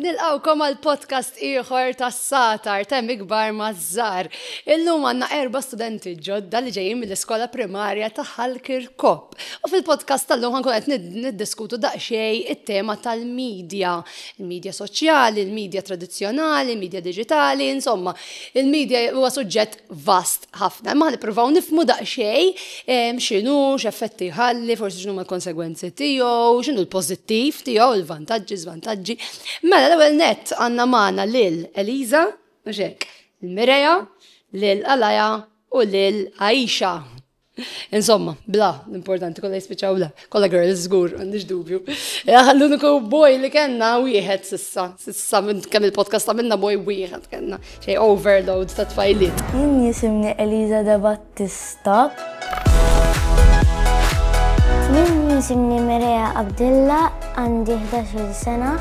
Nilqawkom għal podcast ieħor tas satar temm ikbar maż-żar. Illum għandna erba' studenti ġodda li ġejjin mill-iskola primarja ta' Halkir Kop. U fil-podcast tal-lum ħankun qed niddiskutu daqsxejn it-tema tal-medja, il-medja soċjali, il-medja tradizzjonali, il-medja diġitali, insomma, il-medja huwa suġġett vast. ħafna, imma nippruvaw nifmu daqsxejn ehm, x'inhu, x'effetti ħalli, forsi x'inhu l-konsegwenzi tiegħu, x'inhu l-pożittiv tiegħu, il-vantaġġi, żvantaġġi. Mela l-ewwel nett għandna magħna lil Eliza, mhux hekk, il-Mireja, lil Alaja u lil Aisha. Insomma, bla, l-importanti kollha jispiċċaw bla. Kolla girls, zgur, għandix dubju. Eh, l-uniku boj li kena wieħed sissa, sissa minn kemm il-podcast ta' minna boj wieħed kena, xej overload ta' tfajliet. Jien jisimni Eliza da Battista. Jien jisimni Merea Abdilla, għandi 11 sena.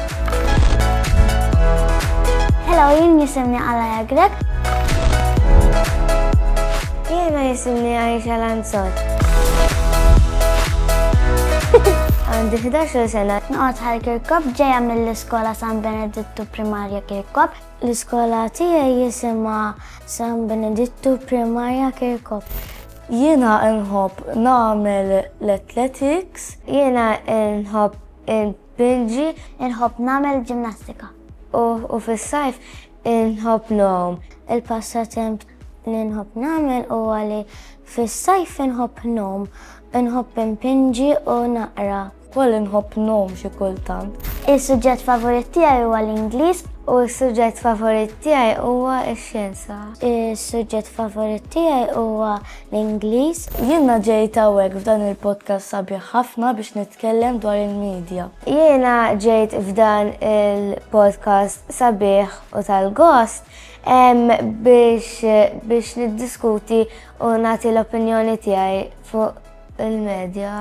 Hello, jien jisimni Alaja Grek. Jiena jisimni Aisha Lanzot. Għandi 11 sena. Nqot ħal Kirkop ġeja mill-iskola San Benedittu Primarja Kirkop. L-iskola tiegħi jisimha San Benedittu Primarja Kirkop. Jiena nħobb nagħmel l-athletics. Jiena nħobb Il-bilġi nħobb nagħmel ġimnastika. U fis-sajf inħobb nogħom. Il-passatemp li nħobb nagħmel huwa li fis-sajf inħobb nogħom, inħobb impinġi u naqra. Wkoll inħobb nogħom xi kultant. Is-suġġett favorit tiegħi huwa l-Ingliż u s-suġġett favorit tiegħi huwa x-xjenza. Is-suġġett favorit tiegħi huwa l-Ingliż. Jiena ġejt hawnhekk f'dan il-podcast sabiħ ħafna biex nitkellem dwar il-midja. Jiena ġejt f'dan il-podcast sabiħ u tal-gost biex niddiskuti u nagħti l-opinjoni tiegħi fuq il-medja.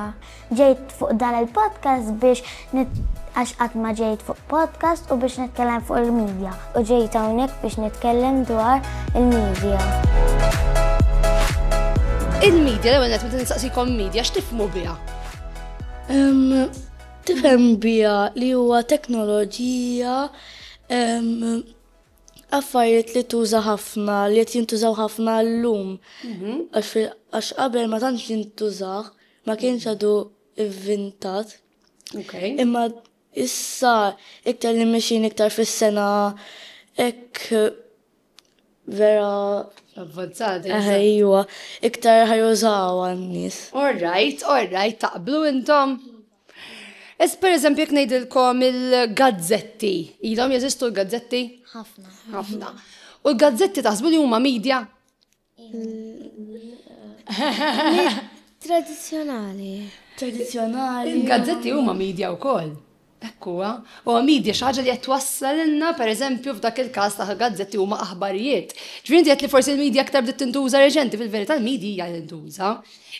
Ġejt fuq dan il-podcast biex għax qatt ma ġejt fuq podcast u biex nitkellem fuq il-medja u ġejt hawnhekk biex nitkellem dwar il-medja. Il-medja l-ewwel qed meta nistaqsikom medja x'tifhmu biha? Tifhem biha li huwa teknoloġija affarijiet li tuża ħafna, li qed jintużaw ħafna llum. Mhm. Għax qabel ma tantx jintużaw. ma kienx għadu ivvintat. Okay. Imma issa iktar li mexin iktar fis-sena ek vera Avvanzati. Ejwa, iktar ħajużaw għan-nies. All right, all right, taqblu intom. Es per eżempju jek ngħidilkom il-gazzetti, ilhom jeżistu l-gazzetti? Ħafna. Ħafna. U l-gazzetti taħsbu li huma media? Tradizzjonali. Tradizzjonali. Il-gazzetti huma media wkoll. Ekkuwa, u għamidja xaġa li qed wassalilna, per eżempju, f'dak il-każ ta' gazzetti huma aħbarijiet. Ġvinti qed li forsi l-medja aktar bdiet tintuża reġenti, fil-verità l-medja hija tintuża.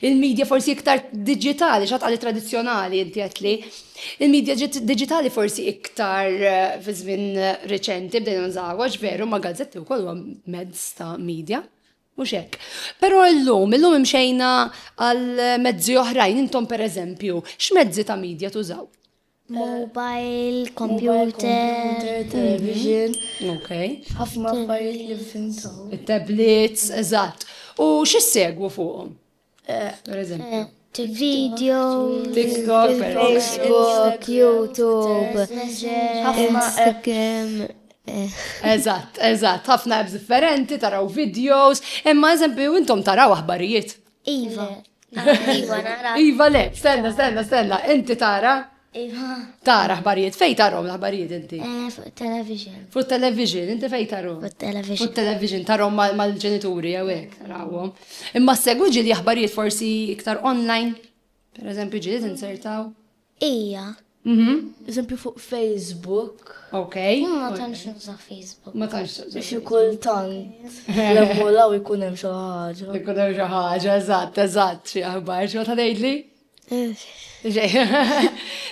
Il-midja forsi iktar diġitali, x'għad qali tradizzjonali inti għedtli. Il-midja diġitali forsi iktar eh, fi żmien eh, reċenti bdejna nżawwaġ veru ma' gazzetti wkoll huwa mezz ta' midja. Mhux hekk. Però llum, illum imxejna għal mezzi oħrajn intom pereżempju, x'mezzi ta' midja tużaw? Mobile, computer, television. Ok. Ħafna affarijiet li fimtaw. Il-tablets, eżatt. U x'issegwu fuqhom? Eh, per eżempju. Eh, Video, TikTok, Facebook, YouTube, Instagram. Eh. Eżatt, eżatt, ħafna apps differenti, taraw videos, imma eżempju intom taraw aħbarijiet. Iva. Iva, nara. Iva, le, stenna, stenna, stenna, inti tara? Iva. Tara ħbarijiet, fej tarom l-ħbarijiet inti? Eh, fuq television. Fuq television, inti fej tarom? Fuq television. Fuq television, tarom mal-ġenituri, għawek, rawom. Imma segwi ġili ħbarijiet forsi iktar online? Per eżempju, ġili t-insertaw? Ija. Eżempju fuq Facebook. Ok. Ma tantx nuża Facebook. Ma tantx. Xi kultant. Lemmu law ikun hemm xi ħaġa. Ikun hemm xi ħaġa, eżatt, eżatt, xi aħbar, xi ta' ngħidli?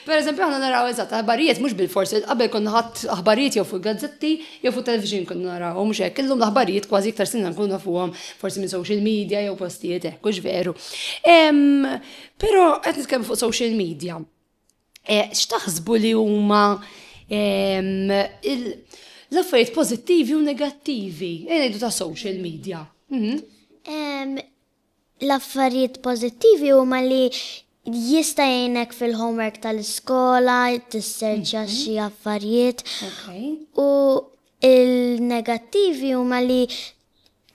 Per eżempju, għanna naraw eżatt, aħbarijiet mhux bil-forsi, qabel konna ħadd aħbarijiet jew fuq gazzetti jew fuq television konna naraw, mhux hekk, illum l-aħbarijiet kważi iktar sinna nkunu fuqhom forsi minn social media jew postijiet hekk, hux veru. Però qed nitkellmu fuq social media. Eh, x'taħsbu li huma ehm, l-affarijiet pożittivi u negattivi eh, ngħidu ta' social media? Mhm. Em, L-affarijiet pożittivi huma li jista' jgħinek fil-homework tal-iskola, tisserċja xi affarijiet Okay. u il-negattivi huma li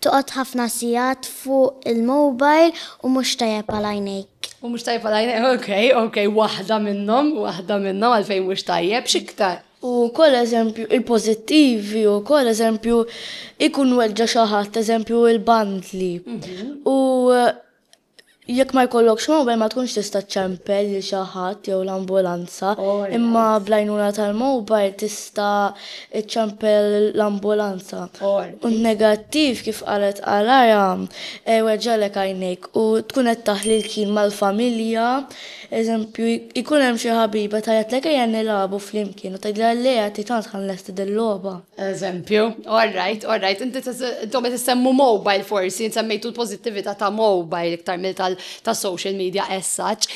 Toqgħod ħafna sigħat fuq il-mobile u mhux tajjeb għal għajnejk. U mhux tajjeb għal għajnejk, okej, okej, waħda minnhom, waħda minnhom għalfejn mhux tajjeb, x'iktar? U wkoll eżempju il-pożittivi wkoll eżempju jkun weġġa' xi ħadd, eżempju l-bandli. U Jekk ma jkollokx mowbajl ma tkunx tista' ċċempel lil xi ħadd jew l-ambulanza, imma bl-għajnuna tal-mowbajl tista' ċċempel l-ambulanza. U n-negattiv, kif qalet Alara, jweġġagħlek għajnejk u tkun qed taħli l-kien mal-familja. Eżempju, jkun hemm xi ħabiba tgħajjatlek ejja nilagħbu flimkien u tgħidilha le għad hi tant ħa nlesti dil-logħba. Eżempju, all right, all right, inti intom qed issemmu mobile forsi, insemmejtu l-pożittività ta' mobile iktar mill ta' social media as such,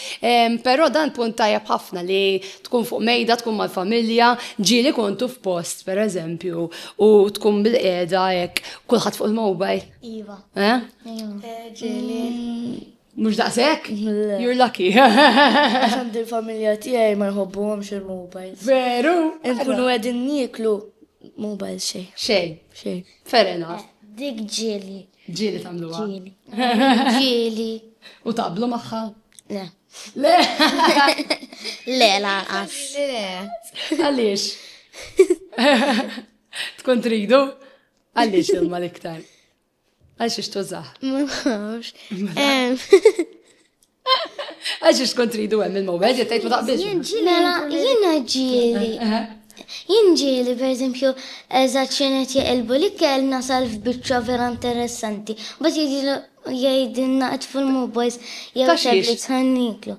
però dan punt tajjeb ħafna li tkun fuq mejda, tkun mal-familja, ġieli kontu f'post per eżempju u tkun bil-qiegħda hekk kulħadd fuq il-mobile. Iva. Eh? Iva. Ġieli. Mux daqsek? You're lucky. Għaxan din familja tijaj ma nħobbu għamx il-mobile. Veru? Nkunu għedin niklu mobile xej. Xej. Xej. Fair enough. Dik ġili. Ġili tamlu Ġili. Ġili. U tablu maħħa? Le. Le. Le, la, għax. Le. Għalix. Tkun tridu? Għalix il-mal iktar. Għal xiex tużaħ? Ma nafx. Għal xiex tkun tridu hemm il-mobile, jekk tgħid ma taqbilx. Mela, jiena ġieli. Jien ġieli, per eżempju, eżatt xenet jaqilbu li kell nasal f'biċċa vera interessanti. Bat jgħidilna qed fil-mobiles jew tablets ħanniklu.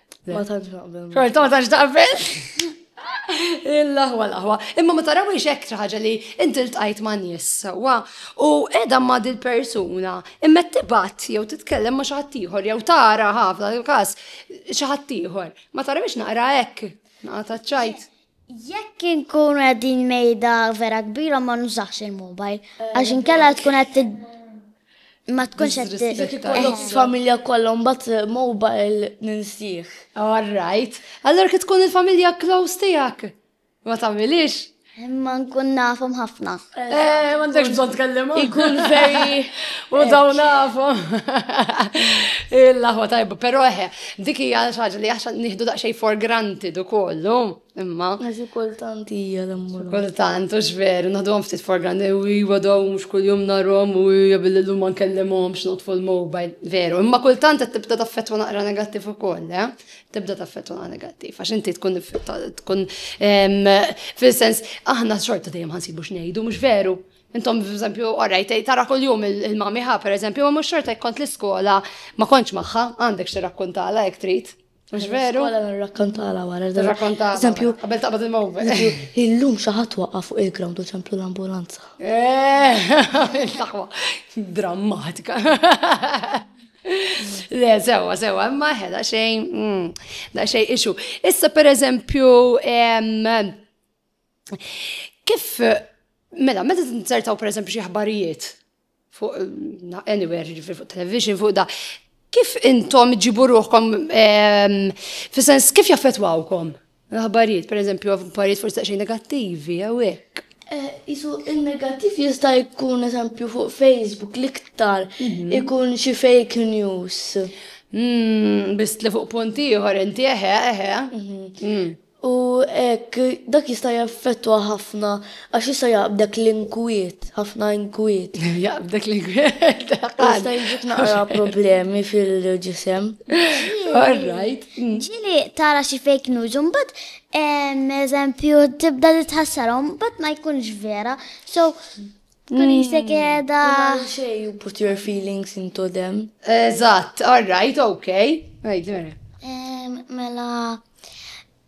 Ma tantx naqbel. Xorta ma tantx taqbel. Il-laħwa laħwa. Imma ma tarawiex hekk ħaġa li inti ltqajt ma' nies sewwa u qiegħda ma' dil-persuna imma tibat jew titkellem ma' xi ħadd ieħor jew tara ħafna il-każ xi ħadd ieħor. Ma tarawiex naqra hekk. Naqra taċċajt. Jekk inkunu qegħdin mejda vera kbira ma nużax il-mobile għax inkella tkun qed ma tkunx qed familja kollha mbagħad eh, mobile ninsih. All right. Allora kif tkun il-familja close tiegħek? Ma tagħmilix? Imma nkun nafhom ħafna. Eh, M'għandekx bżonn tkellem. Ikun veri. U dawn nafu. Il-laħwa tajba, però eħe, eh, dik hija ħaġa li għax nieħdu daqsxejn for granted ukollu, imma. Għax kultant hija l-ammur. Kultant u x'veru, naħduhom ftit for granted, u iwa dawn mhux kuljum narhom u hija billi llum ma nkellimhomx notfu l-mobile, veru, imma kultant qed tibda taffettwa naqra negattiv ukoll, eh? tibda taffettwa negattiv, għax inti tkun tkun fil-sens aħna xorta dejjem ħansibu x'ngħidu mhux veru. Intom, per eżempju, orajt, tara kol jum il-mamiħa, per eżempju, ma mux xorta jkont l-iskola, ma konċ maħħa, għandek xie rakkontala jek trit. Mux veru? Għala għan rakkontala għara. Rakkontala. Eżempju, għabel taqbad il-mowbe. Il-lum xaħat waqqa fuq il-ground u ċemplu l-ambulanza. Eh, Drammatika. Le, sewa, sewa, imma ħeda xejn, mm, da xejn ixu. Issa per eżempju, kif, mela, meta t-insertaw per eżempju xie ħbarijiet fuq, anywhere, ġifir fuq television, fuq da, kif intom ġiburuħkom, fi sens kif jaffetwawkom? L-aħbarijiet, per eżempju, aħbarijiet forsi xejn negattivi, jew hekk. Eh, isu il-negattiv jista' jkun eżempju fuq Facebook l-iktar mhm. ikun xi fake news. Mm, Bist li fuq punt ieħor inti eħe, eħe. Mhm. Mm. U hekk dak jista' jaffettwa ħafna Għax issa jaqbdek l-inkwiet, ħafna inkwiet. Jaqbdek l-inkwiet. Jista' jġik naqra problemi fil-ġisem. All right. Ġili tara xi fake news, un bat eżempju tibda li tħassarom, bat ma jkunx vera. So, Kun jisek edha. Xej, you put your feelings into them. Eżatt, all right, ok. Right, vera. Mela,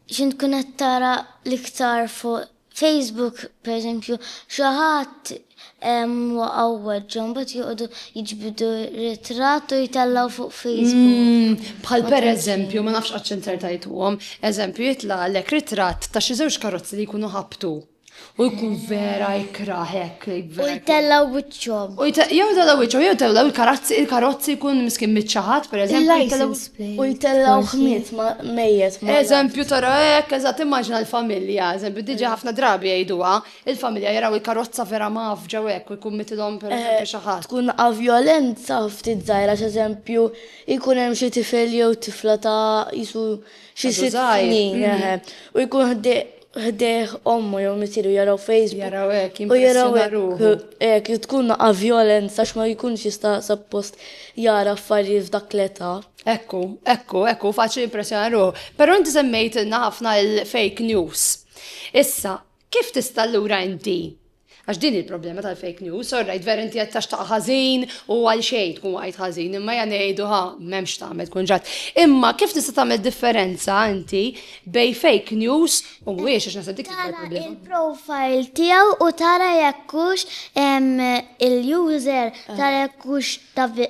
X'int tkun qed tara l-iktar fuq Facebook, pereżempju, xi ħadd waqgħu weġġa' mbagħad joqogħdu jiġbdu ritratt u jtellgħu fuq Facebook. Bħal pereżempju, ma nafx qatt x'intertajtuhom, eżempju jitlaqlek ritratt ta' xi żewġ karozzi li jkunu ħabtu. U jkun vera ikrah hekk. U jtellaw wiċċhom. U jtellaw wiċċhom, jew jtellaw il-karazzi, il-karozzi jkun miskin miċċaħat, per eżempju. U jtellaw ħmiet ma' mejjet. Eżempju tara hekk, eżatt immaġna l-familja, eżempju diġa ħafna drabi jgħiduha, il-familja jaraw il-karozza vera mgħaffġa u hekk u jkun mitilhom per eżempju xi ħadd. Tkun vjolenza ftit żgħira, x'eżempju jkun hemm xi tifel jew tifla ta' qisu xi sitt snin. U jkun ħdej ħdejh ommu jew misieru jaraw Facebook. Jaraw hekk, jimpressjona ruħu. Hekk li tkun naqa' vjolenza għax ma jkunx jista' suppost jara affarijiet f'dak l-età. Ekku, ekku, ekku, faċli jimpressjona ruħu. Però inti semmejtilna ħafna l-fake news. Issa, kif tista' allura inti Għax din hi l-problema tal-fake news, orrajt vera inti qed taxtaq ħażin u għal xejn tkun waqajt ħażin, imma ja ngħidu ħa m'hemmx x'tagħmel tkun ġrat. Imma kif tista' tagħmel differenza inti bejn fake news u mhuwiex għax naħseb dik Tara il-problema. il-profile tiegħu u tara jekk hux em, il-user tara jekk hux ta' vi-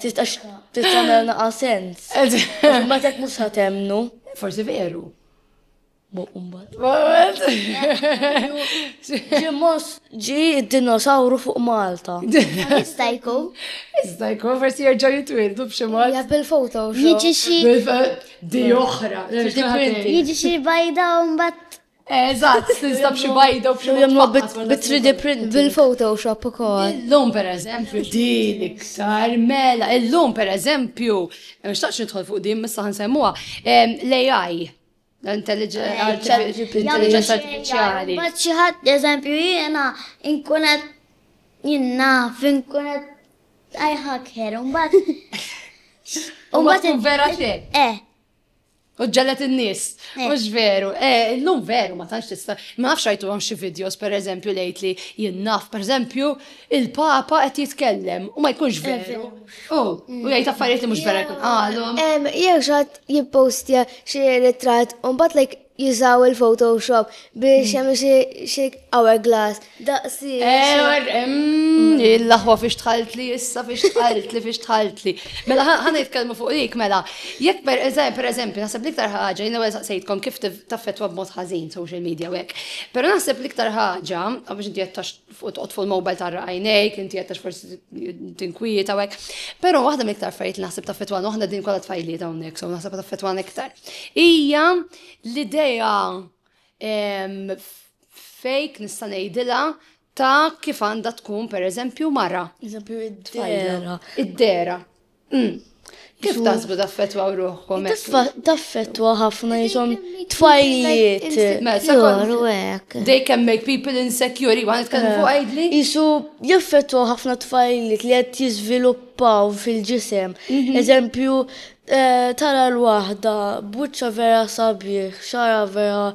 Tistax tagħmel naqa' sens. Ma tek mhux sa temnu. Forsi veru. Boqumbat. Ġimmos ġi d-dinosawru fuq Malta. Jista' jkun. Jista' jkun forsi jerġa' jitwildu b'xi mod. Ja bil-foto. Jiġi xi. Di oħra. Jiġi xi bajda u mbagħad Eżatt, tinstab xi bajda u xi jagħmlu bit-3D print. Bil-Photoshop ukoll. Illum pereżempju din iktar mela, illum pereżempju, nixtaqx nidħol fuq din missa ħansemmuha, l-AI. Intelligenza artifiċjali. Baċċi ħadd eżempju jiena inkunet jiena finkunet I hacker, un bat. Un bat. Vera te. Eh. U ġellet in-nies. Eh. Mhux veru. Eh, illum veru ma tantx tista'. Ma nafx rajtu hawn xi videos pereżempju lejt li jinnaf, pereżempju, il-Papa qed jitkellem u ma jkunx eh, veru. U u jgħid affarijiet li mhux vera jkun qalhom. Jew xatt jippostja xi ritratt u mbagħad like jużaw il-Photoshop biex jagħmel xi hourglass Daqsi. Il-laħwa fiex tħaltli, issa fiex tħaltli, fiex tħaltli. Mela, ħana jitkellmu fuq dik, mela, jekk per eżempju, per eżempju, naħseb liktar ħaġa, jina għal saqsejtkom kif taffetwa b'mod ħażin social media u hekk. Pero naħseb liktar ħaġa, għax inti jattax fuq fuq il-mobile tarra għajnejk, inti jattax forsi tinkwieta u hekk. Pero waħda miktar fajt li naħseb taffetwa waħda din kollha tfajliet hawnhekk, so naħseb taffetwa iktar. Ija l-idea fake nista' ngħidilha ta' kif għandha tkun pereżempju mara. Eżempju id-dera. Id-dera. Mm. Kif tasbu taffetwa ruħkom? Taffetwa ħafna jisom tfajliet. Joru ek. They can make people insecure, għan itkellmu fuq għajdli? Eh, jisu jaffetwa ħafna tfajliet li għed jizviluppaw fil-ġisem. Mhm. Eżempju, Tara l-waħda b'wiċċha vera sabiħ, xagħarha vera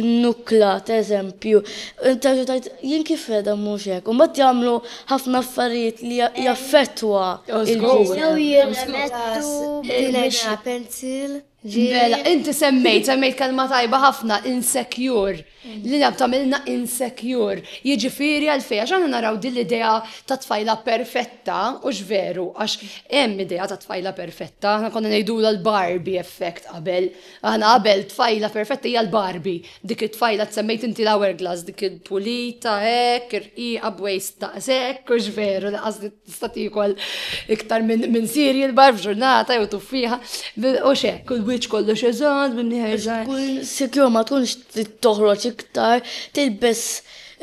nnukkla, t'eżempju, terġa' tgħid, jien kif qiegħda mhux hekk. U mbagħad jagħmlu ħafna affarijiet li jaffettwa l-ġisem. Jew jirremettu b'dilena, pencil, ġieli. Mela, inti semmejt, semmejt kelma tajba ħafna, insecure. li jaf tagħmilna insecure. Jiġifieri għalfejn? Għax aħna naraw din l-idea ta' tfajla perfetta, hux veru, għax hemm idea ta' tfajla perfetta, aħna konna ngħidulha l-Barbie effect qabel. Aħna qabel tfajla perfetta hija l-Barbie, dik it-tfajla tsemmejt inti l-hourglass, dik il-pulita hekk, irqiqa b'waist daqshekk, hux veru li qasdi. Tista' tiekol iktar minn cereal bar f'ġurnata jew tuffieħa u xek. Kull wiċċ kollox eżatt minn ħerżan. Kull sikjur ma tkunx toħroġ iktar, tilbes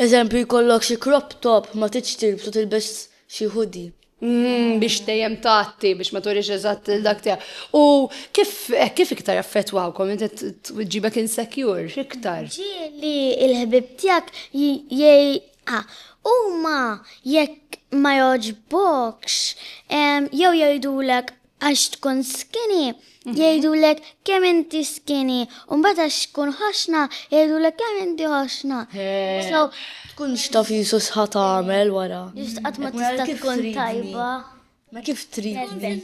eżempju jkollok xi crop top ma tridx tilbsu tilbes xi hoodie. Biex dejjem tgħatti, biex ma turix eżatt dak tiegħek. U kif kif iktar jaffettwawkom inti tġibek insecure iktar? Ġieli l-ħbieb tiegħek A, Huma jekk ma jogħġbokx jew jgħidulek għax tkun skinny, jgħidulek kemm inti skinny, u mbagħad għax tkun ħoxna jgħidulek kemm inti ħoxna. So tkunx taf Ġesu x'ħa tagħmel wara. Just qatt ma tista' tkun tajba. Ma kif tridni.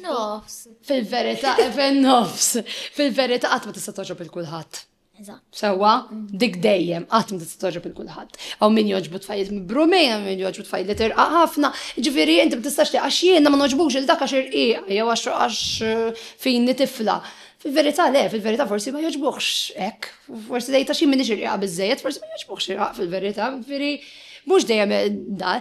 Fil-verità, fin-nofs. Fil-verità qatt ma tista' togħġob il kulħadd. Eżatt. Sewwa, dik dejjem qatt ma tista' toġob il kulħadd. Hawn min jogħġbu tfajjiet mibrumin, hawn min jogħġbu tfajjiet li tirqaq ħafna, ġifieri inti ma tistax għax jiena ma nogħġbux il dak għax irqiq jew għax fini tifla. Fil-verità le, fil-verità forsi ma jogħġbuhx hekk, forsi tgħid għax jien m'iniex irqiqa biżżejjed, forsi ma jogħġbuhx irqaq fil-verità, ġifieri Mhux dejjem da,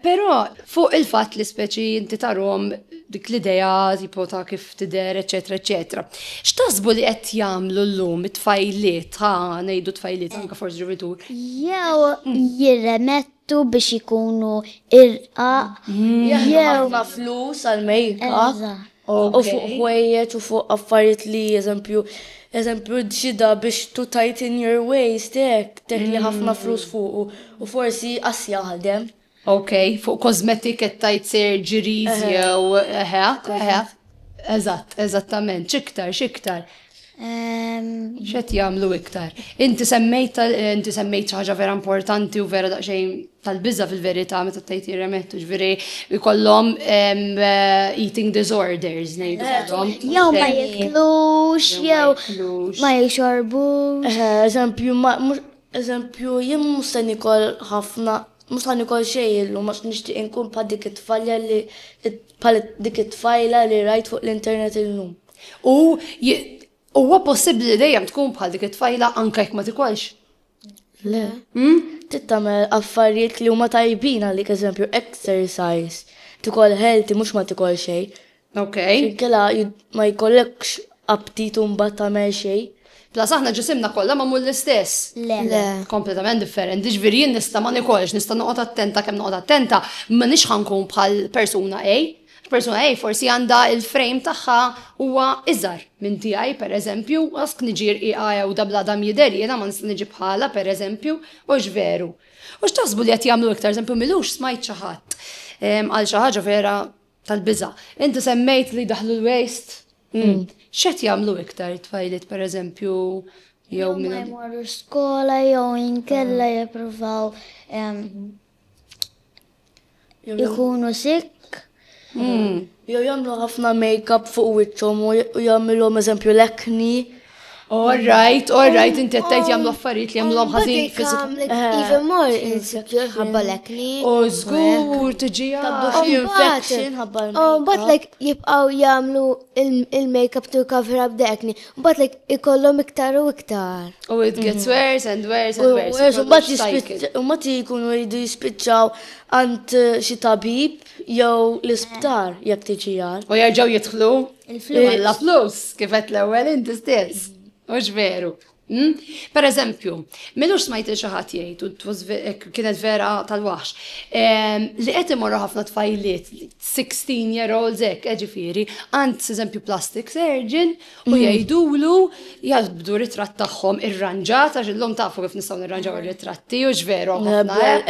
però fuq il-fatt li speċi inti tarhom dik l-idea tipo ta' kif tidher, eċetera, eċetera. X'taħsbu li qed jagħmlu llum it-tfajliet, ha ngħidu tfajliet anke forsi ġuvitur. Jew jirremettu biex ikunu irqa. Jew flus għal mejka. u fuq ħwejjeġ u fuq affarijiet li eżempju eżempju ġida biex to tighten your waist hekk teħli ħafna flus fuqu u forsi qas jaħdem. Ok, fuq kosmetik qed tgħid surgeries jew eħe, eħe. Eżatt, eżattament, x'iktar, x'iktar. X'qed jagħmlu iktar? Inti semmejt inti semmejt ħaġa vera importanti u vera daqsxejn tal-biża fil-verità meta tgħid jirremettu ġifieri jkollhom eh, eating disorders ngħidulhom. Eh, jew ma jiklux, jew ma jixorbux. Eh, eżempju, eżempju, jien mhux se nikol ħafna mux għan ikol xej illu, mux nishtiq inkun pa dik it-tfalja li pa dik it-tfajla li rajt fuq l-internet illum. U huwa possibbli li dejjem tkun bħal dik it-tfajla anke jekk ma tikolx? Le. Hmm? Tittamel affarijiet li huma tajbin għalik eżempju exercise, tikol healthy mhux ma tikol xejn. Ok. Kela ma jkollekx aptitu mbagħad tagħmel xejn. Plas aħna ġisimna kollha magħmul l-istess. Le. Le. Kompletament differenti, ġifieri jien nista' ma nikolx, nista' noqgħod attenta kemm noqgħod attenta, ma nix ħankun bħal persuna A. Persuna A forsi għandha il-frame tagħha huwa iżgħar minn tiegħi pereżempju, għask niġi rqiqa għewda bla dam jidher jiena ma nista' niġi bħalha pereżempju, hux veru? U x'taħsbu li qed jagħmlu iktar eżempju m'ilux smajt xi ħadd qal xi ħaġa vera tal-biża'. Inti semmejt li daħlu l-waste. X'qed jagħmlu iktar it-tfajliet pereżempju jew minn. Jmorru skola jew inkella jippruvaw Ikunu sik. Hmm. Jew jagħmlu ħafna make-up fuq wiċċhom u jagħmilhom eżempju l-ekni. All right, all right, inti għattajt jamlu affarijiet li jamlu ħazin fizik. Even more insecure ħabba l-ekni. U zgur, tġi infection ħabba l-ekni. But like jibqaw jamlu il-makeup to cover up the acne. Mbagħad like ikollhom iktar u iktar. U it gets mhm. worse and worse and worse. Worse, mbagħad jispiċċaw, mbagħad jkunu jridu jispiċċaw għand eh, xi tabib jew l-isptar eh. jekk tiġi għal. U jerġgħu jidħlu il-flus. La flus, kif qed l-ewwel inti stess. Mhux veru. Hmm? Per eżempju, minux smajt xi ħadd jgħid u eh, kienet vera tal-waħx. Ehm, li qed imorru ħafna tfajliet sixteen year olds hekk eh ġifieri, għand eżempju plastic surgeon u jgħidulu jaqbdu ritratt tagħhom irranġat għax illum tafu kif nistgħu nirranġaw ir-ritratti u x'veru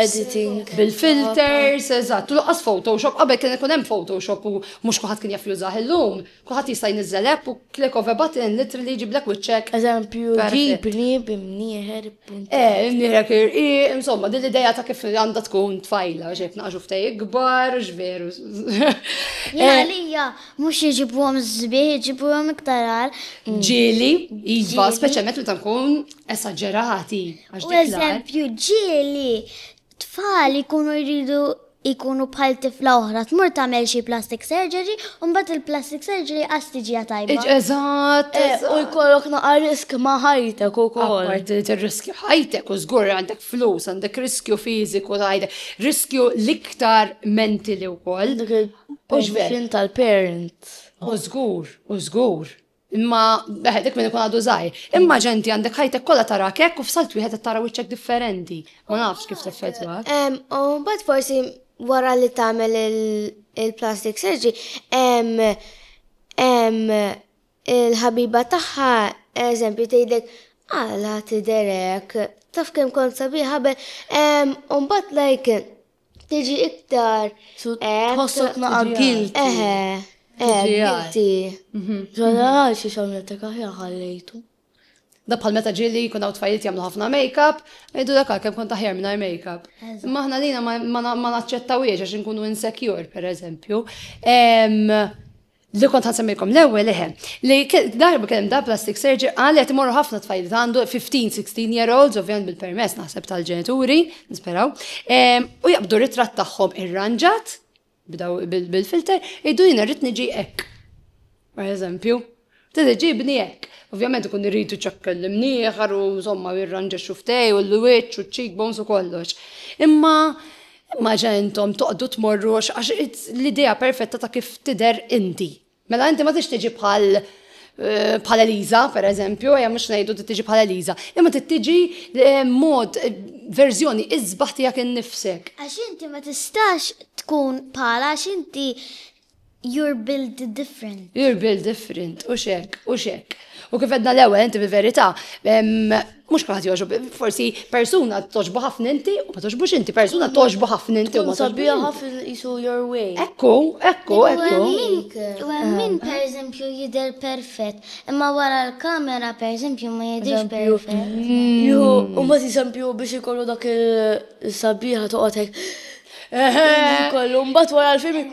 editing bil-filters, eżatt, u laqas Photoshop, qabel kien ikun hemm Photoshop u mhux kulħadd kien jaf jużah illum. Kulħadd jista' jniżżel app u click of a button literally jġiblek wiċċek. Eżempju, ġib nieb imnieħer. Eh, imnieħer kirqi, insomma, din l-idea ta' kif għandha tkun tfajla, xejn naqġu ftej ikbar, x'veru. Għalija, mhux jiġibuhom żbieħ, jiġibuhom iktar għal. Mm. Ġieli, iva, speċjalment meta nkun esaġerati. U eżempju, ġieli, tfal ikunu jridu Ikunu bħal tifla oħra tmur tagħmel xi plastic surgery u mbagħad il-plastic surgery qas tiġiha tajba. Eżatt! U jkollok naqa' risk ma' ħajtek ukoll. Apparti li tirriskja ħajtek u żgur għandek flus, għandek riskju fiżiku ta' ħajtek, riskju l-iktar mentili wkoll. Dik il-position tal-parents. U żgur, u żgur. Imma beħed dik minn ikun għadu żgħir. Imma ġenti għandek ħajtek kollha tara kek u f'salt wieħed qed tara wiċċek differenti. Ma nafx kif teffettwa. U mbagħad forsi wara li tagħmel il-plastic surgery, il-ħabiba tagħha eżempju tgħidlek għala tiderek taf kemm kont sabiħa qabel. U mbagħad like Tiġi iktar. Tħossok naqa guilty. Eħe. Eħe, guilty. Ġolla għal xi xamlet ta' kaħja ħallejtu. Da bħal meta ġili jkun hawn tfajliet jagħmlu ħafna make-up, jgħidu dak kemm kont aħjar mingħajr make-up. Imma aħna lina ma naċċettawiex għax inkunu insecure, pereżempju. li kont ħansemmilkom l-ewwel eħe, li darba kien hemm da plastic surgery qal qed imorru ħafna tfajl għandu 15-16 year olds, ovvjament bil-permess naħseb tal-ġenituri, nisperaw, ehm, u jaqbdu ritratt tagħhom irranġat bil-filter, iddu jina rrid niġi hekk. Per eżempju, tista' ġibni hekk. Ovvjament ikun irridu ċakkel l-imnieħar u insomma jirranġa xuftej u l-wiċċ u ċ-cheekbones u kollox. Imma Imma ġa intom toqgħdu tmorru għax l-idea perfetta ta' kif tidher inti. Mela inti ma tix tiġi bħal Eh, bħal Eliza, per eżempju, għajja mux najdu t tiġi bħal Eliza, imma t tiġi eh, mod, eh, verżjoni, izbaħ tijak n-nifsek. Għax inti ma tistax tkun bħala, għax inti You're built different. You're built different, u xek, u xek. U kif edna l-ewel, inti bil-verita, mux kħat joġbu, forsi persuna toġbu ħafna inti, u ma toġbux inti, persuna toġbu ħafna inti, u ma toġbu ħafna jisu your way. Ekku, ekku, ekku. U għemmin, per eżempju, jider perfett, imma wara l-kamera, per eżempju, ma jidirx perfett. Ju, u ma t-eżempju biex ikollu dak il-sabiħa toqotek. Eħe, kollu, mbat wara l-film.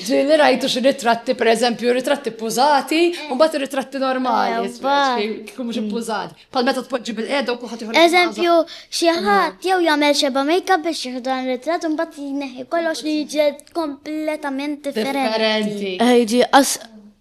Ġili rajtu xi ritratti, per eżempju, ritratti pużati, mbat ritratti normali. Kum xi pużati. Pal meta tpoġġi bil-qeda u kuħat jħollu. Eżempju, xi ħadd jew jagħmel xeba make-up biex jieħdan ritratt mbat jneħħi kollox li jiġi kompletament differenti. Ejġi,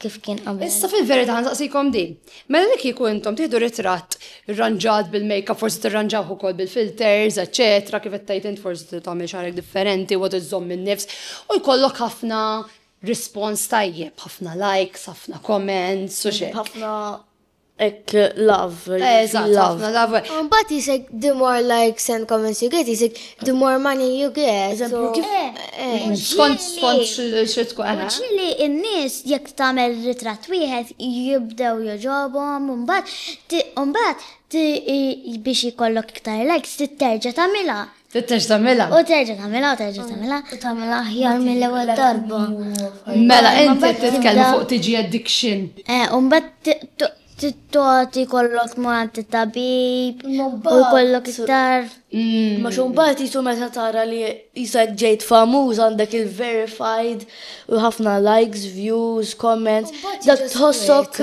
kif kien qabel. Issa fil-verità nsaqsikom din. Mela li kieku intom tieħdu ritratt irranġat bil-makeup, forsi tirranġawh ukoll bil-filters, eċetera, kif qed tgħid int forsi tagħmel xahrek differenti u iżżomm in-nifs u jkollok ħafna rispons tajjeb, ħafna likes, ħafna comments u xejn. Ħafna Hekk love. Eżatt, ħafna love. Mbagħad jisek the more likes and comments you get, jisek the more money you get. Eżempju kif? Skont skont xi tkun. Ġieli n-nies jekk tagħmel ritratt wieħed jibdew jogħġobhom u mbagħad u mbagħad biex ikollok iktar likes trid terġa' tagħmilha. Tittex tagħmilha. U terġa' tagħmilha u terġa' tagħmilha. U tagħmilha aħjar mill-ewwel darba. Mela inti titkellem fuq tiġi addiction. Eh, u mbagħad titgħati kollok ma' tabib u jkollok iktar. Mm. Ma xumbat jisu meta tara li jisek ġejt famuż għandek il-verified u ħafna likes, views, comments, dak tħossok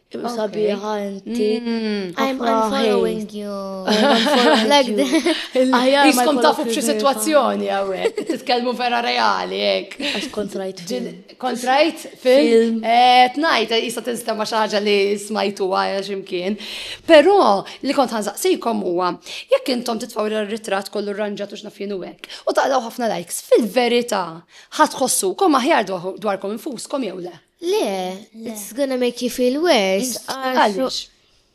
Imma Okay. sabiħa inti. Mm, I'm ħafna unfollowing hate. you. I'm unfollowing Like you. that. Aħjar ma Iskom jkollok tafu f'xi il-verify. situazzjoni għawek, titkellmu vera reali, ek. Għax kontrajt fil. Kontrajt film. Film. Eh, Tnajt, jisa tinsta ma xaġa li smajtu għaja ximkien. Pero, li kont għanżaqsikom huwa, jekk intom titfaw il-ritrat kollu rranġat u xnafjien u hekk, u taqlaw ħafna likes, fil-verita, ħatħossukom aħjar dwar- dwarkom infuskom jew le. Le, it's gonna make you feel worse. Għaliex?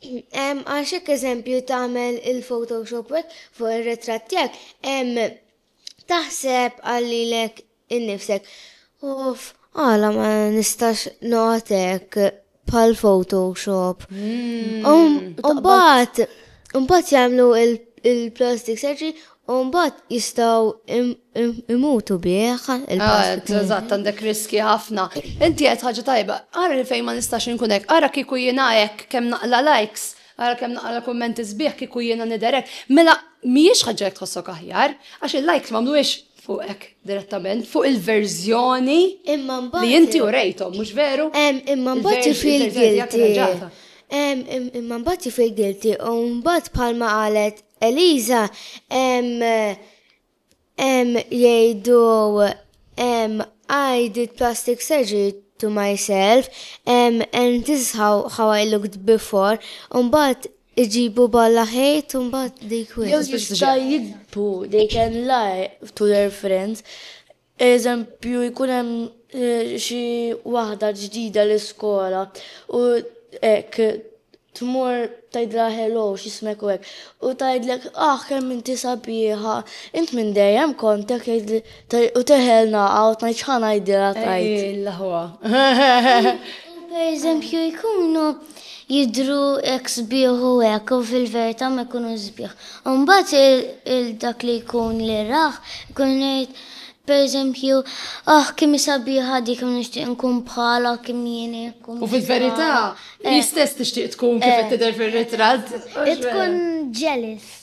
Għax hekk eżempju tagħmel il-Photoshop wek fuq ir-ritratt tiegħek, taħseb għallilek innifsek. Uff, għala ma nistax notek pal Photoshop. Hmm. Umbat, umbat jamlu il-plastic surgery U mbagħad jistgħu jmutu bih il-pass. Eżatt, għandek riskji ħafna. Inti qed ħaġa tajba, ara fejn ma nistax inkun hekk, ara kieku jiena hekk kemm naqla' likes, ara kemm naqra' kummenti sbieħ kieku jiena nidher hekk. Mela mhijiex ħaġa jekk tħossok aħjar, għax il-likes m'għamluhiex fuqek direttament, fuq il-verżjoni li inti urejthom, mhux veru? Imma mbagħad you feel guilty. Imma mbagħad you feel guilty u mbagħad bħalma qalet Eliża, Hemm hemm jgħidu hemm I did plastic surgery to myself, hemm and this is how, how I looked before, mbagħad iġibu balla ħejt u mbagħad dik Jew jista' jikbu they can lie to their friends Eżempju, jkun hemm xi waħda ġdida l-iskola u hekk tmur tgħidilha hello x'ismek u hekk. U tgħidlek ah kemm inti sabiħa, int minn dejjem kont hekk jgħidli u teħel naqa' u tgħid x'ħa ngħidilha tgħid. Ejjilla ħwa. Pereżempju jkunu jidhru hekk sbieħ u hekk u fil-verità ma jkunux sbieħ. U mbagħad il dak li jkun li rah ikun jgħid pereżempju, aħ kemm hi sabiħa di, kemm nixtieq nkun bħalha, kemm jien hekk u U fil-verità hi stess tixtieq tkun kif qed tidher fir-ritratt. Tkun jealous.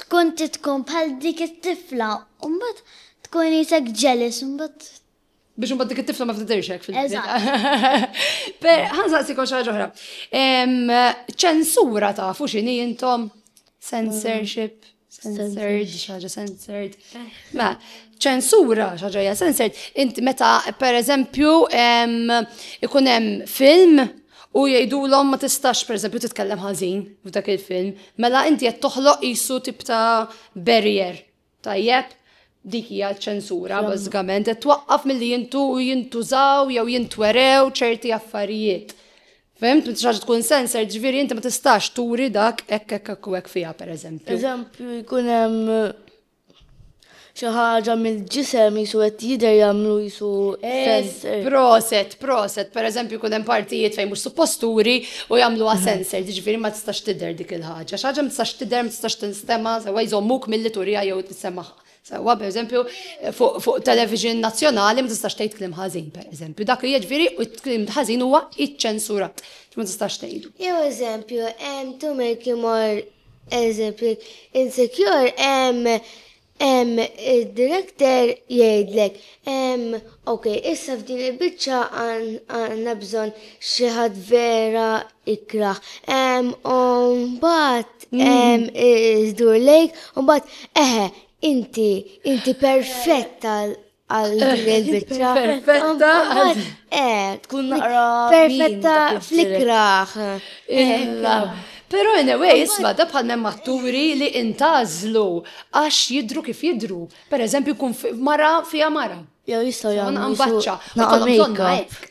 tkun trid tkun bħal dik it-tifla u mbagħad tkun isek jealous u mbagħad biex mbagħad dik it-tifla ma ftidirx hekk fil-ġdid. Per ħansaqsi kol xi oħra. Ċensura tafu x'inhi intom? Censorship, censored, xaġa censored. Ma, ċensura xaġa hija censored. Int meta pereżempju ikun hemm film U jgħidulhom ma tistax pereżempju titkellem ħażin f'dak il-film, mela inti qed toħloq qisu tip ta' barrier. Tajjeb? Dik hija ċ-ċensura bażikament, qed twaqqaf milli jintu jintużaw jew jintwerew ċerti affarijiet. Fimt, minn xaġa tkun sensor, ġifieri inti ma tistax turi dak hekk hekk hekk u hekk fiha pereżempju. Eżempju, jkun hemm Xi ħaġa mill-ġisem jisu qed jidher jagħmlu jisu sensor. Proset, proset, per eżempju kun hemm partijiet fejn mhux supposturi u jagħmluha mhm. sensor, jiġifieri ma tistax tidher dik il-ħaġa. Xi ħaġa ma tistax tidher, ma tistax tinstema' sewwa jżommuk milli turija jew tissemagħha. Sewwa per eżempju fuq television nazzjonali ma tistax tgħid kliem ħażin per eżempju. Dak li jiġifieri u kliem ħażin huwa iċċensurat. Ma tistax tgħidu. Jew eżempju, hemm tumel kimor Eżempju, jekk insecure hemm hemm id-director jgħidlek, ehm, ok, issa f'din il-biċċa għandna bżonn xi ħadd vera ikrah. Ehm, u mbagħad ehm, idur lejk u mbagħad, eħe, inti, inti perfett għal għal din il-bicċa. Perfetta. Eh, tkun naqra. Perfetta flikraħ. Illa. Pero anyway, isma, da bħal mem matturi li intazlu għax jidru kif jidru. Per eżempju, kun mara fija mara. Jow jistaw jgħamlu. Għambaċċa. Għambaċċa.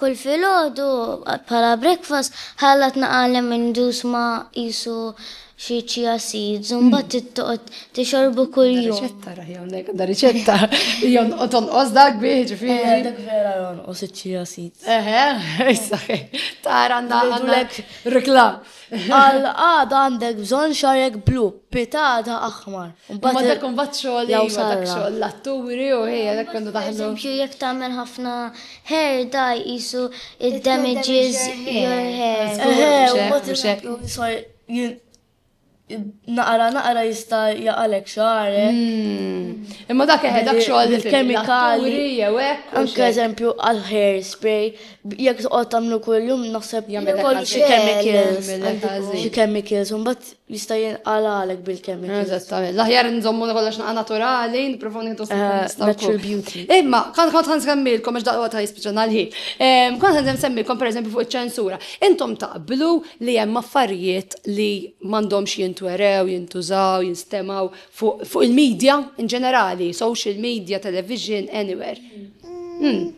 Kull filgħodu, bħala breakfast, ħalla tnaqalhem indus ma' qisu xi chia seeds u mbagħad trid toqgħod tixorbu kuljum. Riċetta raħi hawnhekk għandha riċetta. Jew noqgħod tonqos dak bih ġifieri. Dak vera jonqos iċ-chia seeds. Eħe, issa tara għandha għandha reklam. Għal għada għandek bżonn xarek blu, pitata aħmar. Ma dak kun bat xogħol jew dak xogħol l-atturi u ħejja dak kun daħlu. Eżempju jekk tagħmel ħafna hair dye qisu it damages your hair. Eħe, ma tibxek. Naqra naqra jista' jaqalek xagħrek. Hmm. Imma dak eħe dak xogħol il-kemikali jew hekk. Anke eżempju għal hair spray Jekk toqgħod tagħmlu kuljum naħseb Jagħmel kollu xi ħażin, chemicals, jagħmel għandu ħażin. xi chemicals, u mbagħad jista' jinqalgħalek bil-chemicals. Eżattament. L-aħjar nżommu kollox naqa' naturali, nipprovaw nieħdu Eh, nistgħu natural wkoll. beauty. Imma, kont kont ħan semmilkom, għax daqqa ta' jispiċan għal-ħin. Em, Kont ħan semmilkom, per eżempju, fuq iċ-ċensura. Intom taqblu li hemm affarijiet li m'għandhomx jintwerew, jintużaw, jinstemaw, Fuq il-medja in ġenerali, social media, television, anywhere. Hmm.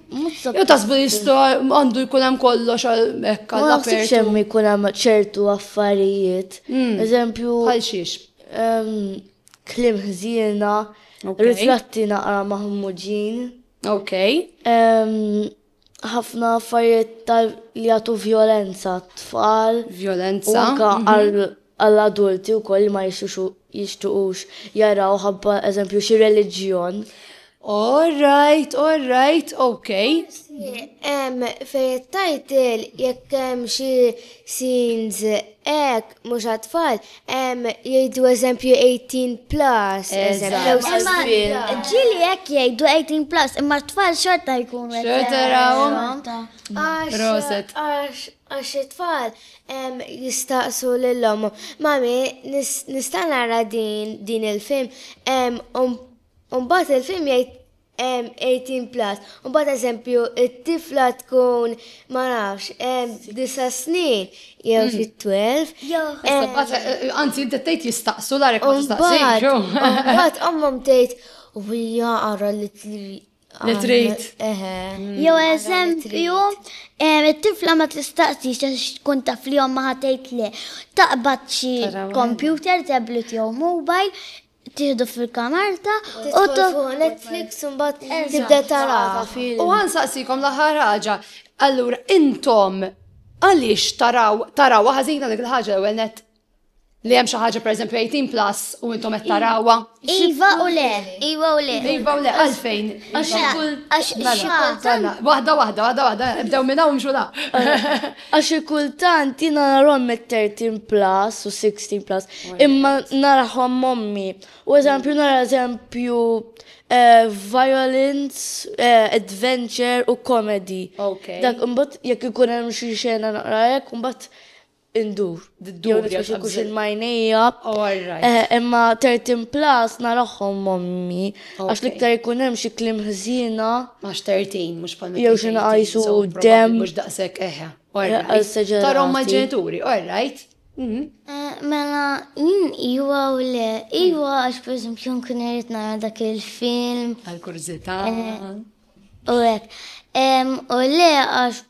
Jew tasbu jistgħu għandu jkun hemm kollox hekk għal apertu. hemm jkun hemm ċertu affarijiet. Hmm. Eżempju. Għal xiex. Klim ħżiena, ritratti naqra maħmuġin. Ok. ħafna affarijiet tal li jagħtu vjolenza tfal. Vjolenza. Anka mhm. għall-adulti wkoll li ma jixtuqux jaraw ħabba eżempju xi reliġjon. All right, all right, okay. Em, fejt title, jekk hemm xi scenes ek, Mhux għat-tfal, ehm, jgħidu eżempju 18 plus, eżempju. Imma ġieli hekk jgħidu 18 plus, imma t-tfal xorta jkunu qed. Xorta rawhom. Proset. Għax it-tfal ehm, jistaqsu lil ommhom. Mami, nista' nara din il-film? Ehm, u mbagħad il-film jgħid hemm 18 plus, u mbagħad eżempju it-tifla tkun ma nafx hemm disa' snin jew hmm. xi 12. Eh, anzi inti tgħid jistaqsu l ma tistaqsix. Mbagħad ommhom tgħid u hija ara li Li trid. Hmm. Jew eżempju, it-tifla ma tistaqsix għax tkun taf li ma ħatejt le. Taqbad xi computer, tablet jew mobile, Tieħdu fil-kamarta u tidħol fuq Netflix u mbagħad tibda taraha. U ħa nsaqsikom l-aħħar ħaġa, allura intom għaliex taraw tarawha ħażina dik il-ħaġa l-ewwel nett? Li hemm xi ħaġa pereżempju 18 plus u intom qed tarawha? Iva u le. Iva u le. Iva u le, għalfejn? Għax xi kultant. Waħda waħda, waħda waħda, ibdew minn hawn xulha. Għax xi kultant jiena narahom mit-thirteen plus u sixteen plus, imma narahom mommi. U eżempju nara eżempju eh, violence, eh, adventure u comedy. Okay. Dak imbagħad jekk ikun hemm xi xena naqra hekk imbagħad indur. d-dubja xi kuxin majnija. Eh, imma 13 plus naraħħom mommi. Għax liktar ikun hemm xi klim ħżina. Għax 13 mhux bħal Jew xi nqajsu dem. Mhux daqshekk eħe. Eh, Tarom ma' ġenituri, all right. Mhm. Eh, mela, jien iwa u le, iwa għax per esempio nkun irrit nara dak il-film. Għal-kurzita. U għek. U le għax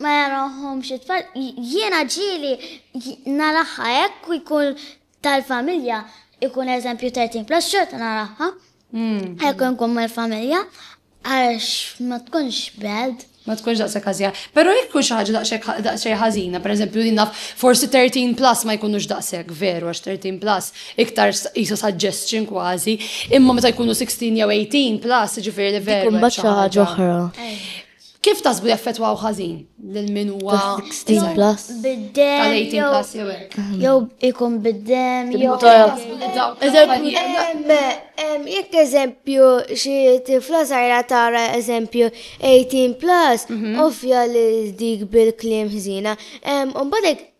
ma jarahomx it-tfal, jiena ġieli naraha hekk u jkun tal-familja ikun eżempju 13 plus xorta naraha. Hekk nkun mal-familja għax ma tkunx bad. Ma tkunx daqshekk ħażina. Però jekk tkun xi ħaġa daqshekk daqsxejn ħażina, pereżempju li naf forsi 13 plus ma jkunux daqshekk veru għax 13 plus iktar qisu suggestion kważi, imma meta jkunu 16 jew 18 plus jiġifieri li veru. Tkun bad xi ħaġa oħra. Kif tasbu jaffetwaw ħażin lil min huwa 16 plus? Bid-dem jew ikun bid-dem jew jekk eżempju xi tifla sajra tara eżempju 18 plus mhm. ovvja li dik bil-kliem ħżina. Mbagħad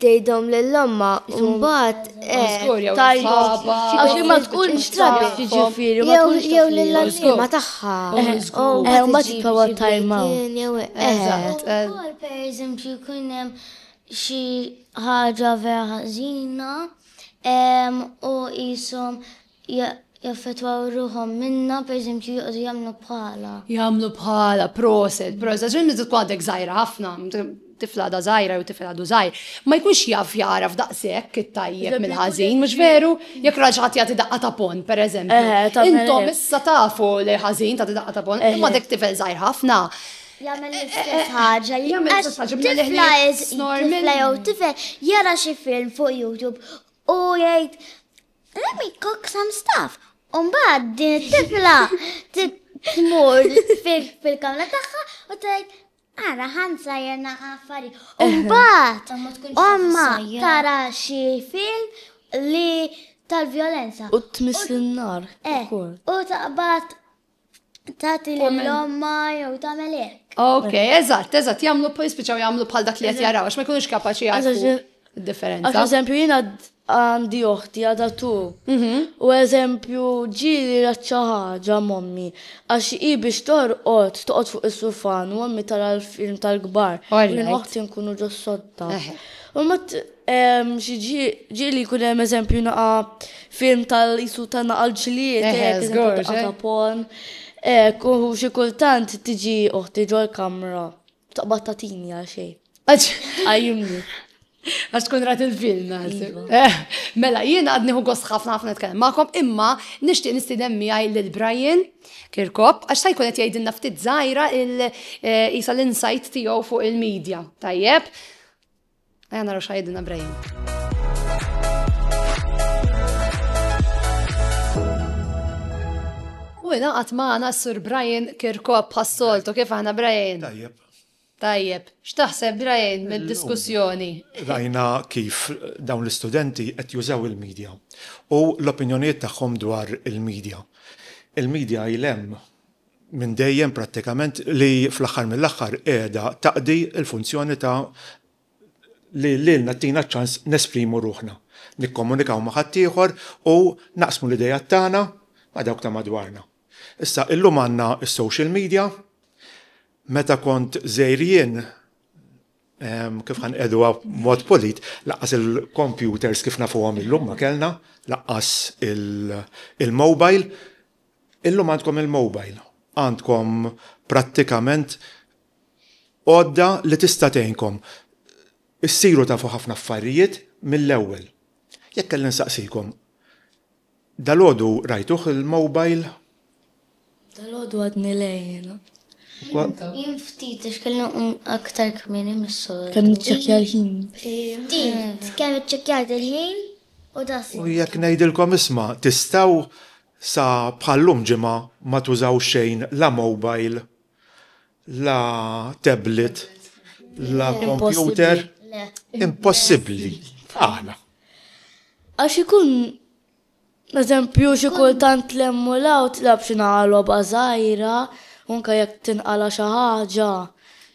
tgħidhom lil ommha u mbagħad tgħajjat għax ma tkunx taf jiġifieri ma tkunx jew lil għalliema tagħha. Eħe, mbagħad jitbagħu time out. Eżatt. Ukoll pereżempju jkun hemm xi ħaġa vera ħażina u qishom jaffettwaw ruħhom minnha, pereżempju joqogħdu jagħmlu bħalha. Jagħmlu bħalha, proset, proset, għax meta tkun għadek żgħira ħafna, tifla għadha żgħira jew tifel għadu żgħir, ma jkunx jaf jagħraf daqshekk it-tajjeb mill-ħażin, mhux veru? Jekk ra xi ħadd jagħti daqqa ta' pon, pereżempju. Intom issa tafu li ħażin tagħti daqqa ta' pon, imma dek tifel żgħir ħafna. Jagħmel l-istess ħaġa, jagħmel l-istess ħaġa, tifla jew tifel jara xi film fuq YouTube u jgħid Let me cook some stuff. Umbagħad din it-tifla tmur fil-kamra tagħha u tgħid Ara ħansa jena għaffari. Umbat, omma tara xie film li tal-violenza. U tmiss l-nar. Eh, u taqbat Tati l-lomma jew tagħmel hekk. Ok, eżatt, eżatt, jagħmlu jispiċċaw jagħmlu bħal dak li qed jaraw għax ma jkunux kapaċi jagħmlu differenza. Għax eżempju jiena għandi oħti għadha tu. Mhm. U eżempju ġieli raċċa ħaġa mommi għax hi biex torqod toqgħod fuq is-sufan u mommi tara l-film tal-kbar. Jien oħti nkunu ġo sotta. U Xi ġie li jkun hemm eżempju naqa film tal-isu ta' naqa l-ġlied, għazapon. Kuhu xi kultant tiġi uħti ġol kamra taqbad ta' tini għal xej. Għajimni. Għax tkun rat il-film, għazim. Iva. Eh, mela, jien għadni hu għos ħafna ħafna nitkellem ma'kom, imma nishtiq nistidem miħaj l-Brian Kirkop, għax sa' jkun jgħidinna ftit zaħira il-isa eh, l-insight tiegħu fuq il-medja. Tajjeb? Ejja naraw x'għajdilna Brian. U ingħaqad magħna s-Sur Brian Kirkop bħas-soltu kif aħna Brian. Tajjeb. Tajjeb, x'taħseb Brian mid-diskussjoni? Rajna kif dawn l-istudenti qed jużaw il-media u l-opinjonijiet tagħhom dwar il-media. Il-media il hemm minn dejjem prattikament li fl-aħħar mill-aħħar qiegħda taqdi l-funzjoni ta' li lilna ttina ċ-ċans nesprimu ruħna, nikkomunikaw ma' ħaddieħor u naqsmu l-ideat tagħna ma' dawk ta' madwarna. Issa, illum għandna s-social media, meta kont żgħir jien, kif ħa nqiegħduha b'mod polit, lanqas il-kompjuters kif nafuhom illum ma kellna, lanqas il-mobile, Illum għandkom il-mobile, għandkom prattikament għodda li tista' tgħinkom issiru tafu ħafna affarijiet mill-ewwel. Jekk kelli nsaqsikom, dalgħodu rajtuh il-mobile? Dalgħodu għadni le jiena. Jien ftit għax kelli nqum aktar kmieni mis-soltu. Kemm iċċekkja l-ħin? Ftit, kemm iċċekkjajt il-ħin? u da sibtu. U jekk ngħidilkom isma' tistgħu sa bħal-lum ġimgħa ma tużaw xejn la mobile, la tablet, la computer, impossibbli. Għala? Għax ikun Eżempju, xi kultant lemmu law tlab xi naqa' logħba żgħira, unka jekk tinqala xi ħaġa,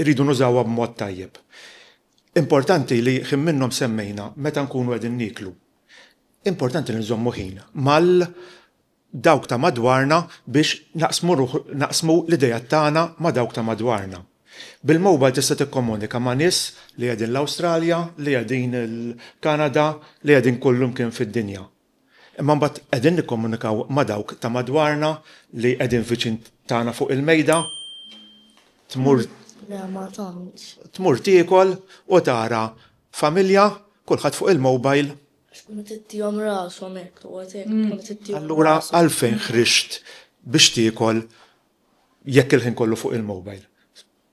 Irridu nużawha b'mod tajjeb. Importanti li ħin minnhom semmejna meta nkunu qegħdin nieklu. Importanti li nżommu ħin mal dawk ta' madwarna biex naqsmu ruħ naqsmu l-ideat tagħna ma' dawk ta' madwarna. Bil-mobile tista' tikkomunika ma' nies li qegħdin l-Awstralja, li qegħdin il-Kanada, li qegħdin kullimkien fid-dinja. Imma mbagħad qegħdin nikkomunikaw ma' dawk ta' madwarna li qegħdin viċin tagħna fuq il-mejda, tmur tmur tiekol u tara familja kulħadd fuq il-mobile. Għax tkun qed ittihom rashom hekk, toqgħod hekk tkun qed ittihom rashom. Allura għalfejn ħriġt biex tiekol jekk il-ħin kollu fuq il-mobile?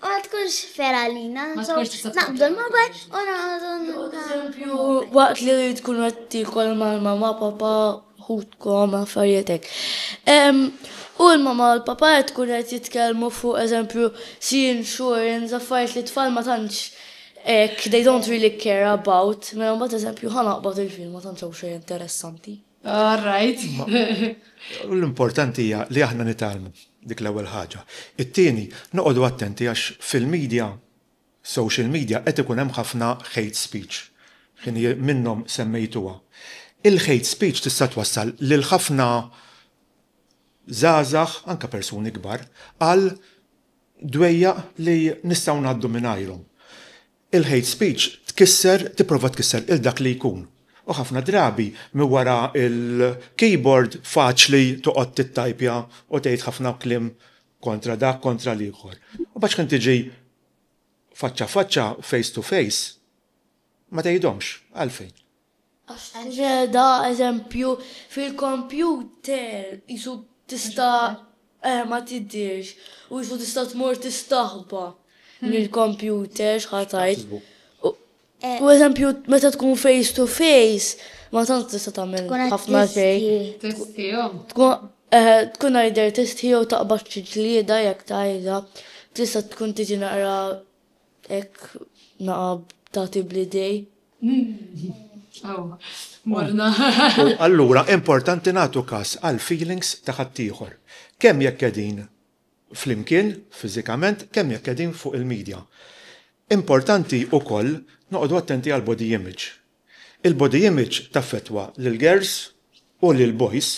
Ma tkunx fair għalina, so naqbdu l-mobile u noqogħdu niltaqgħu. Pereżempju, waqt li tkunu qed tiekol mal-mamma, papà, ħutkom, affarijiet hekk. U l-mamma u l-papà qed tkun qed jitkellmu fuq eżempju sea insurance, affarijiet li t-tfal ma tantx hekk, they don't really care about, mela mbagħad eżempju ħa naqbad il-film ma tantx hawn xejn interessanti. All right. L-importanti hija li aħna nitgħallmu dik l-ewwel ħaġa. It-tieni, noqogħdu attenti għax fil-media, social media qed ikun hemm ħafna hate speech. Ħinie minnhom semmejtuha. Il-hate speech tista' twassal lil ħafna żgħażagħ, anke persuni kbar, għal dwejjaq li nistgħu ngħaddu mingħajrhom. Il-hate speech tkisser, tipprova tkisser lil dak li jkun. U ħafna drabi minn wara l-keyboard faċli toqgħod tittajpja u tgħid ħafna kliem kontra dak, kontra l-ieħor. Imbagħad x'ħin tiġi faċċa faċċa, face to face, ma tgħidhomx. Għalfejn? Għax tinġeda eżempju fil-kompjuter qisu tista' eh ma tidhirx u qisu tista' tmur tistaħba mill-kompjuter x'ħa tgħid. U eżempju meta tkun face to face ma tant tista' tagħmel ħafna xejn. Tkun either tistħi jew taqbad xi ġlieda jekk tgħidha. Tista' tkun tiġi naqra hekk naqab tagħti bl-idejn. U allura importanti nagħtu kas għall-feelings ta' ħaddieħor, kemm jekk qegħdin flimkien fiżikament, kemm jekk qegħdin fuq il-media. Importanti ukoll noqogħdu attenti għall-body image. Il-body image taffettwa lill-girls u lill-boys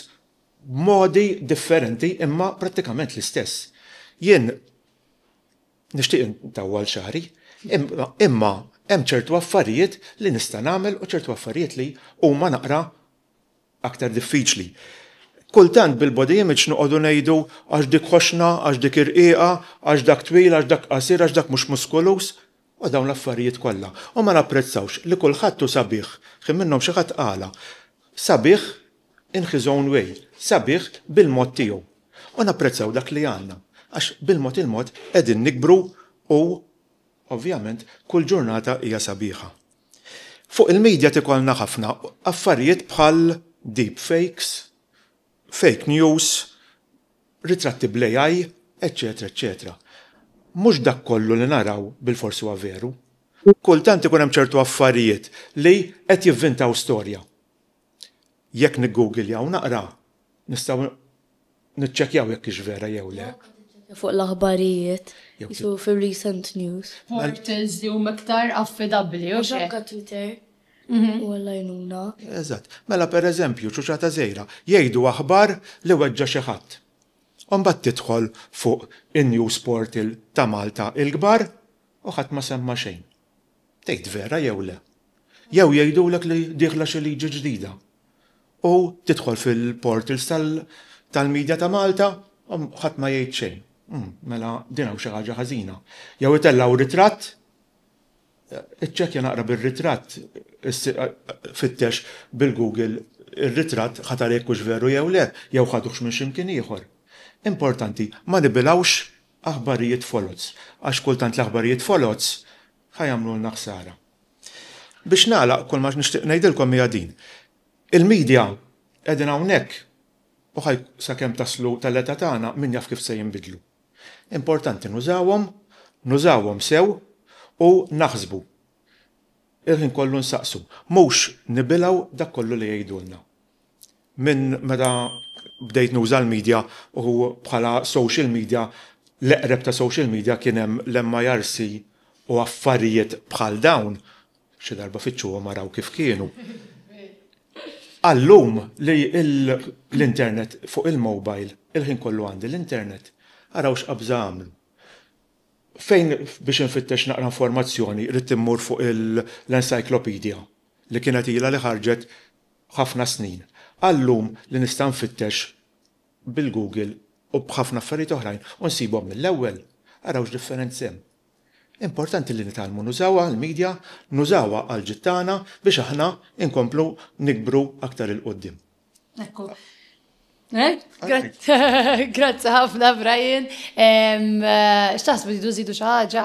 b'modi differenti imma prattikament l-istess. Jien. Nixtieq intawwal xagħri, imma hemm ċertu affarijiet li nista' nagħmel u ċertu affarijiet li huma naqra aktar diffiċli. Kultant bil-body image noqogħdu ngħidu għax dik ħoxna, għax dik irqiqa, għax dak twil, għax dak qasir, għax dak mhux muskuluż, u dawn l-affarijiet kollha. U ma napprezzawx li kulħadd hu sabiħ. Ħin minnhom xi ħadd qala, Sabiħ in his own way, sabiħ bil-mod tiegħu. U napprezzaw dak li għandna, għax bil-mod il-mod qegħdin nikbru u ovvjament kull ġurnata hija sabiħa. Fuq il-media tikollna ħafna affarijiet bħal deep fakes, fake news, ritratti bl-AI, eċċetera eċċetera. Mhux dak kollu li naraw bilfors huwa veru. Kultant ikun hemm ċertu affarijiet li qed jivvintaw storja. jekk niggugiljaw naqra nistgħu niċċekkjaw jekk hix vera jew le. Fuq l-aħbarijiet, jisu fir-recent news. Portals li huma iktar affidabbli u x'hekk. Anke Twitter u Alla jgħinuna. Eżatt. Mela pereżempju ċuċata żgħira jgħidu aħbar li weġġa' xi ħadd. U mbagħad tidħol fuq in-news portal ta' Malta l-kbar u ħadd ma semma xejn. tgħid vera jew le. Jew jgħidulek li dieħla xi liġi ġdida u tidħol fil-portals tal-media ta' Malta u ħadd ma jgħid xejn. Umm, mela din hawn xi ħaġa ħażina. Jew itellgħu ritratt, iċċekkja naqra bir-ritratt, fittex bil-Google ir-ritratt, ħa tara jekk hux veru jew le, jew ħaduhx minn xi mkien ieħor. Importanti, ma nibilgħux. aħbarijiet foloz, għax kultant l-aħbarijiet foloz ħa jagħmlulna ħsara. Biex nagħlaq kull ma nixtieq ngħidilkom hija din. Il-media qegħdin hawnhekk u ħaj sakemm taslu tal-età tagħna min jaf kif se jinbidlu. Importanti nużawhom, nużawhom sew u naħsbu. Il-ħin kollu nsaqsu, mhux nibilgħu dak kollu li jgħidulna. Minn meta bdejt nuża l-media u bħala social media, l-eqreb ta' social media kien hemm l-MIRC u affarijiet bħal dawn, xi darba fittxuhom araw kif kienu, għal-lum li l-internet fuq il-mobile, il-ħin kollu għandi l-internet, araw x'qabża għamlu. Fejn biex infittex naqra informazzjoni ridt immur fuq l-encyclopedia li kienet ilha li ħarġet ħafna snin għal-lum li nista' nfittex bil-Google u b'ħafna affarijiet oħrajn u nsibhom mill-ewwel. Araw x'differenz hemm. Importanti li nitgħallmu nużawha l-media, nużawha għall-ġid tagħna biex aħna nkomplu nikbru aktar 'il quddiem. Ekku. Grazzi ħafna Brian. X'taħsbu tridu żidu xi ħaġa?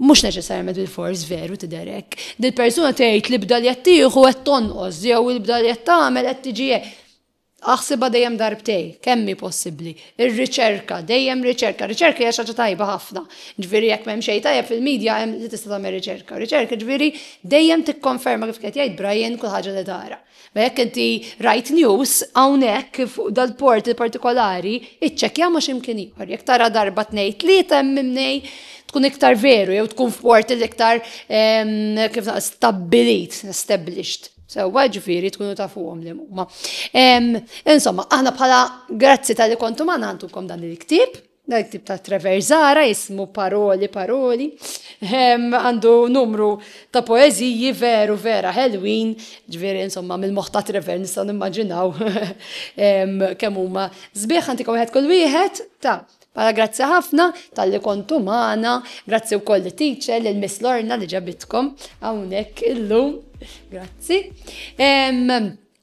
Mhux neċessarjament bilfors veru tidher hekk. Dil-persuna tgħid li b'dan li qed tieħu qed tonqos jew li b'dan li qed tagħmel qed tiġi hekk. Aħsibha dejjem darbtejn, kemm hi possibbli. Ir-riċerka, dejjem riċerka. Riċerka hija xi ħaġa tajba ħafna. Ġifieri jekk m'hemm xejn tajjeb fil-media hemm li tista' tagħmel riċerka. Riċerka ġifieri dejjem tikkonferma kif qed jgħid Brian kull ħaġa li tara. Ma jekk inti rajt news hawnhekk fuq dal-portal partikolari, iċċekkja ma' x'imkien ieħor. Jekk tara darba tnejn tlieta hemm mimnej tkun iktar veru jew tkun f'portal iktar ehm, kif naqra stabbilit, established. Sewwa ġifieri tkunu tafuhom li huma. Ehm, insomma, aħna bħala grazzi tal-li kontu ma nagħtukom dan il-ktieb, Dan it-tip ta' traversara jismu Paroli Paroli għandu numru ta' poeżiji veru vera ħelwin, ġifieri insomma mill-moħħ ta' Trevor nistgħu nimmaġinaw kemm huma sbieħ għantikom wieħed kull wieħed ta' Mela grazzi ħafna talli kontu magħna, grazzi wkoll lit-teacher lil Miss Lorna li ġabitkom hawnhekk illum. Grazzi.